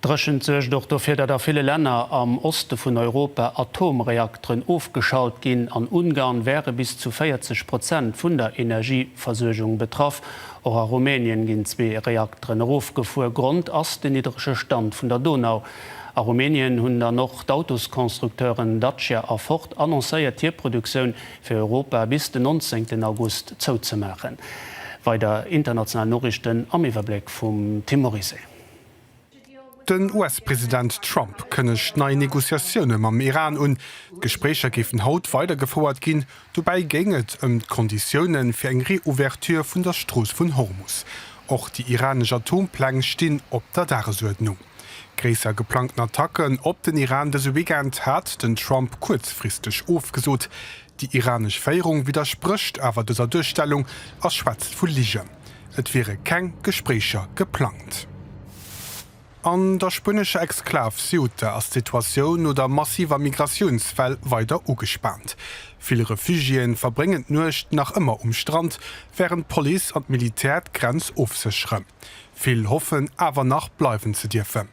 D'Dréchent suergt och dofir, datt a ville Länner am Oste vun Europa Atomreakteren ofgeschalt ginn. An Ungarn wäre bis zu 40 Prozent vun der Energieversuergung betraff. Och a Rumänien ginn zwee Reakteren erofgefuer. Grond ass den niddrege Stand vun der Donau. A Rumänien hunn dann och d'Autosconstructeuren Dacia a Ford annoncéiert, hir Produktioun fir Europa bis den 19 August zouzemaachen. Weider international Noriichten am Iwwerbléck vum Tim Morizet. Den US-President Trump kënnegt nei Negociatioune mam Iran un. D'Gespréicher géifen haut weidergefouert ginn. Dobäi géing et ëm d'Konditioune fir eng Reouverture vun der Strooss vun Hormus. Och déi iranesch Atompläng stinn op der Dagesuerdnung. Gréisser geplangten Attacken op den Iran dëse Weekend hat den Trump kuerzfristeg ofgesot. Déi iranesch Féierung widdersprécht awer dëser Duerstellung a schwätzt vu Ligen, et wiere keng Gespréicher geplangt. An der spuenescher Exklav Ceuta ass d'Situatioun no der massiver Migratiounswell weider ugespaant. Vill Refugiéen verbréngen d'Nuecht nach ëmmer um Strand, wärend d'Police an d'Militär d'Grenz ofsécheren. Vill hoffen awer nach bleiwen ze dierfen.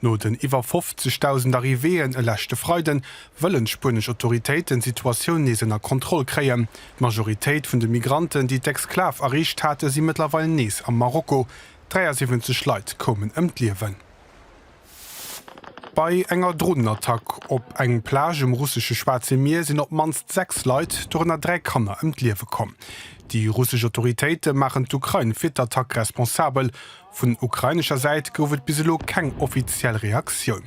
No den iwwer 50.000 Arrivéeën e leschte Freiden, wëllen d'spuenesch Autoritéiten d'Situatioun nees ënner Kontroll kréien. D'Majoritéit vun de Migranten, déi d'Exklav erreecht haten, si mëttlerweil nees am Marokko. 73 Leit koumen ëm d'Liewen. Bei enger Dronenattack op eng Plage um russesche Schwaarze Mier sinn op d'mannst 6 Leit, dorënner 3 Kanner, ëm d'Liewe komm. Déi russesch Autoritéite maachen d'Ukrain fir d'Attack responsabel. Vun ukrainescher Säit gouf et bis elo keng offiziell Reaktioun.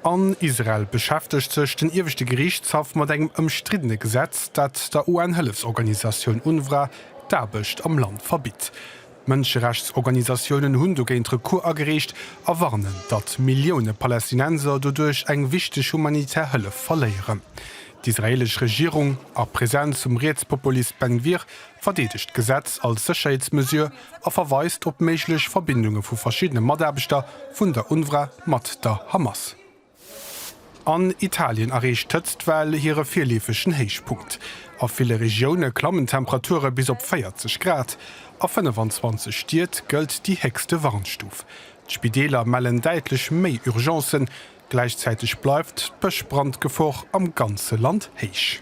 An Israel beschäftegt sech den ieweschte Geriichtshaff mat engem ëmstriddene Gesetz, dat der UN-Hëllefsorganisatioun UNRWA d'Aarbecht am Land verbitt. Mënscherechtsorganisatiounen hunn dogéint Recours agereecht a warnen, datt Millioune Palästinenser doduerch eng wichteg humanitär Hëllef verléieren. D'israeelesch Regierung, a Presenz vum Rietspopulist Ben Gvir, verdeedegt d'Gesetz als Sécherheetsmesure a verweist op méiglech Verbindunge vu verschiddene Mataarbechter vun der UNRWA mat der Hamas. An Italien erreecht d'Hëtztwell hire virleefegen Héichpunkt. A ville Regioune klammen d'Temperature bis op 40 Grad. A 25 Stied gëllt déi héchste Warnstuf. D'Spideeler mellen däitlech méi Urgencen. Gläichzäiteg bleift d'Bëschbrandgefor am ganze Land héich.